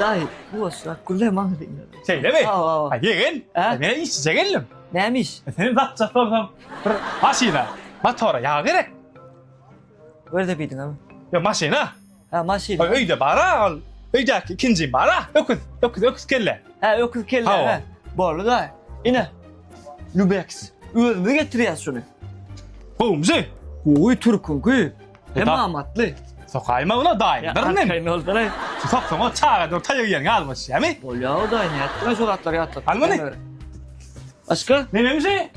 Daýy, bu bolsa Güle maňa diňledi. Şeýlemi? Hawa, hawa. A ýegen, Hä? men işçije geldim. Näme iş? Seni datjak bolsam, bir maşyna, motora ýag gerek. Görde biýdiňmi? Ýok, maşyna. Hä, maşyn. Ö- Öýde bar-a ol. Öýdäki ikinjim bar-a. Öküz, öküz, öküz kelle. Hä, öküz kelle. Hawa. hä. Boldy daýy. Ine. Lübeks. Özümiz getirýäs şuny. Gowumjy. Gowy türküňki. Hem amatly. Sokaýma ula daýy, bir nem. Sokaýma ula daýy. Soksaň o çaga dur taýyk ýeriňe almaş, ýamy? Bolýa o daýy, nätdiň şu zatlar ýatdyk. Al muny. Aşka? Ne meňze?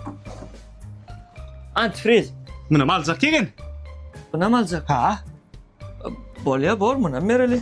Antifriz. Muny maljak ýegen. Muny maljak. Ha. Bolýa bor muny mereli.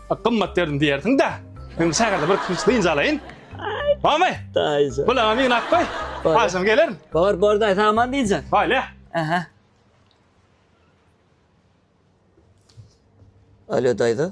Gymmat berdim diýersiň de. Men şägerde bir kiş dynç alaýyn. Bamy? Daýyja. Bulaňa migin at goý. Agşam gelerin. Bor, bor daýy, saňa man diýjek. Baýla. Aha. Alo daýza.